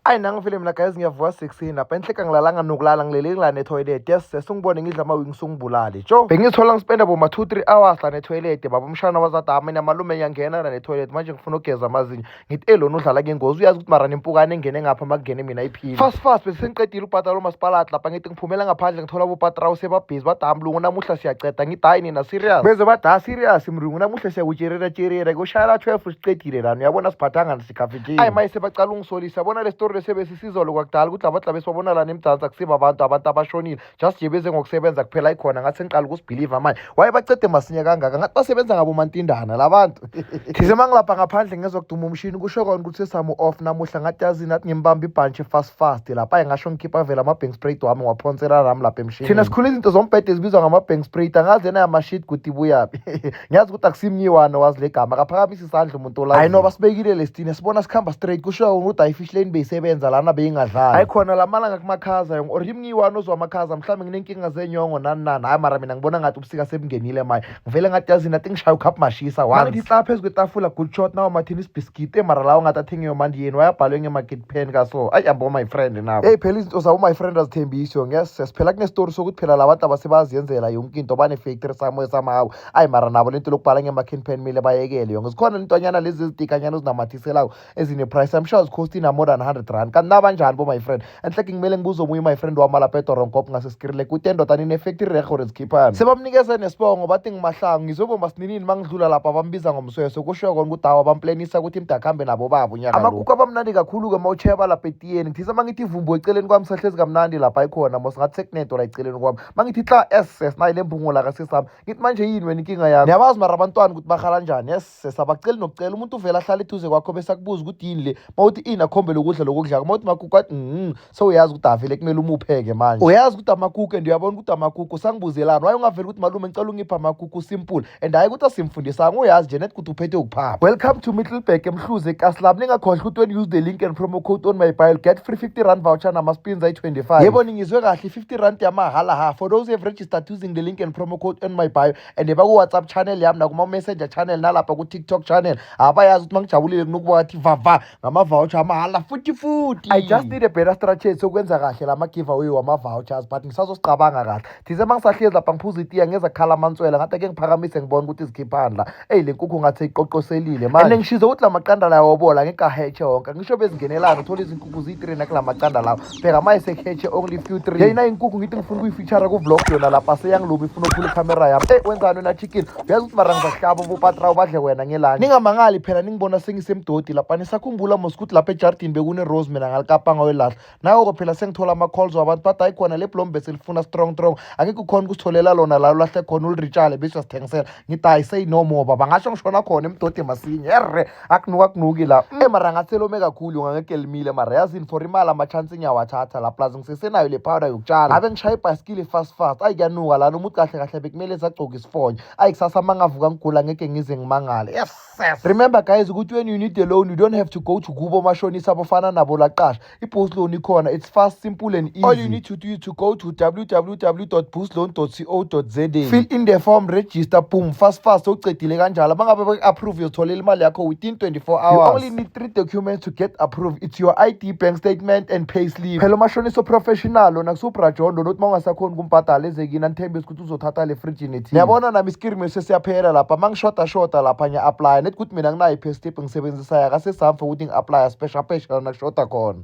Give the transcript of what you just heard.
ayi nanga vele mina guys ngiyavuka sixini lapha enhleka ngilalanga nokulala ngilele ngila netoilet yes sese ungibone ngidla amawing sungibulale jo bengithola ngispenda boma two three hours la netoilet baba umshana wazadama namalume ngiyangena la netoilet manje ngifuna ukugeza amazinyo ngithi elona udlala ngengozi uyazi ukuthi mara nempukane engene ngapha makungene mina iphile fast fast bese sengiqedile ubhatala umasipalati lapha ngithi ngiphumela ngaphandle ngithola bopatrawu sebabhizi badaya mlungu namuhla siyaceda ngidayi nina serious beze badaya serious mlungu namuhla siyakutsherera tsherera kushayela twelve siqedile lana uyabona siphathanga sikafikile ayi maye sebacala ungisolisa bona le story lesebe sisizolo kwakudala ukuthi laba dlabesi babona lana emdansi akusiba abantu abantu abashonile just nje beze ngokusebenza kuphela ikhona ngathi sengiqala ukusibhiliva manje waye bacede masinya kangaka ngathi basebenza ngabo mantindana labantu thize mangilapha ngaphandle ngezokuduma umshini kusho kona ukuthi sesamu off namuhla ngathi yazi nathi ngimbamba ibhantshi fast fast lapha ayi ngasho ngikhipha vele ama-bank sprayed wami ngiwaphonsela rami lapha emshini thina sikhula izinto zombhede ezibizwa ngama-bank sprayed angazi yena yamashit kuti buyaphi ngiyazi ukuthi akusimnyiwana wazi le gama akaphakamisa isandla umuntu olayo hayi noba sibekile lesitine sibona sikhamba straight kusho yona ukuthi ayifish lane beyisebenza lana beyingadlali hayi khona lamalanga kumakhaza yonke or imnyiwana ozwa amakhaza mhlawumbe nginenkinga zenyongo nani nani hayi mara mina ngibona ngathi ubusika sebungenile maye ngivele ngathi yazini athi ngishaya ukhaphu mashisa once ngihlala phezu kwetafula good shot nawo mathini isibhiskiti emara lawo ngathi athengiwe manje yeni wayabhalwe ngemaketi pheni kaso ayi yabo my friend nabo eyi phela izinto zabo my friend azithembisho ngese siphela kunestori sokuthi phela la bantu abasebaziyenzela yonke into banefactory samoya samawo ayi mara nabo lento lokubhala ngema-can pen mile bayekele yonke zikhona lentonyana lezi ezitikanyana ezinamathiselako ezine-price i'm sure zikhostina more than 100 rand kanti nabanjani bo my friend enhleke ngimele ngibuze omunye my friend wami alapetoronkob ngase ngirele kude endoda ninefekti rerhe or zikhiphani sebamnikeze nesibongo bathi ngimahlangu ngizobomba sininini mangidlula lapha bambiza ngomsweso kusho kona ukuthi awa bamplenisa ukuthi imdakhambe nabo baba unyaka amakuku abamnandi kakhulu-ke uma utsheba lapha etiyeni ngithisa uma ngithi ivumbu eceleni kwami sahlezi kamnandi lapha ikhona mos ngathi sekunedola eceleni kwami uma ngithi xa ss nayi le mbungula kasesami ngithi manje yini wena inkinga yami niyabazi mara abantwana ukuthi bahala njani yes sesabaceli nokucela umuntu uvele ahlale eduze kwakho bese akubuza ukuthi yini le mawuthi ini akhombele ukudla lokudlako mawuthi makuku athi mm sewuyazi ukuthi avele kumele umupheke manje uyazi ukuthi amakuku and uyabona ukuthi amakuku sangibuzelani waye ungaveli ukuthi malume ngicela ungipha amakuku simple and hayi ukuthi asimfundisanga uyazi nje net ukuthi uphethe ukuphapha welcome to middleburg emhluze ekaslab ningakhohlwa ukuthi when use the link and promo code on my bio get free 50 rand voucher namaspins ayi-25 yebo ningizwe kahle 50 rand yamahhala ha for those who have registered using the link and promo code on my bio and baku-whatsapp channel yami nakuma-messenger channel nalapha ku-tiktok channel abayazi ukuthi mangijabulile kunokuba wathi vava ngama-voucher amahhala futhi futhi i just need a better strategy sokwenza kahle la ma-giveaway wama-vouchers but ngisazosicabanga kahle thize uma ngisahlezi lapha ngiphuza itiya ngeza khala amantswela ngathi ake ngiphakamise ngibona ukuthi izikhiphani la eyi le nkukhu ngathi iqoqoselile manje and ngishize ukuthi la maqanda lawo obola ngekahetshe wonke ngisho bezingenelana uthola izinkukhu ziyi-three nakula maqanda lawo bheka ma esekhetshe only few three yeyina inkukhu ngithi ngifuna ukuyifeature ku-vlog yona lapha seyangilubi ifuna uphula ikhamera yami eyi wenzani wena chicken uyazi ukuthi mara ngizahlaba ubupatra ubadle wena ngelani ningamangali phela ningibona sengisemdodi lapha nisakhumbula mos ukuthi lapha ejardini bekune-rose mina ngalikapanga welahla nayo-ko phela sengithola ama-calls wabantu bathi hayi khona le blombe selifuna strong strong angeke ukhona ukusitholela lona la ulahle khona uliritshale bese uyasithengisela ngithi hayi say no more baba ngasho ngishona khona emdode masinye erre akunuka kunuki la mm. emara ngathelome kakhulu ngangekelimile mara yazini for imali ama-chance ngiyawathatha la plus ngisesenayo le powder yokutshala ave ngishaya ibhayisikili fast fast ayi kuyanuka lana umuthi kahle kahle bekumele sagcoka isifonyo ayi kusasa uma ngavuka ngigula ngeke ngize ngimangale yes remember guys ukuthi when you need a loan you don't have to go to kubo omashonisa abafana nabo laqasha I-boost loan ikhona it's fast simple and easy all you need to do is to go to www.boostloan.co.za fill in the form register boom fast fast sowucedile kanjalo bangabe baku-approve uyozitholela imali yakho within 24 hours you only need three documents to get approved it's your id bank statement and pay slip phela umashonisa oprofessional lona kusubrajondo nokuthi uma ungasakhoni ukumbhadala ezekini anithembise ukuthi uzothatha le fridge nethini yabona nami iskirimi sesiyaphela lapha uma ngishoda shoda lapha ngiya-aplya nethi ukuthi mina nginayo i-pestip ngisebenzisayo akasesami for ukuthi ngi-aplya sipesha pesha lana kushoda khona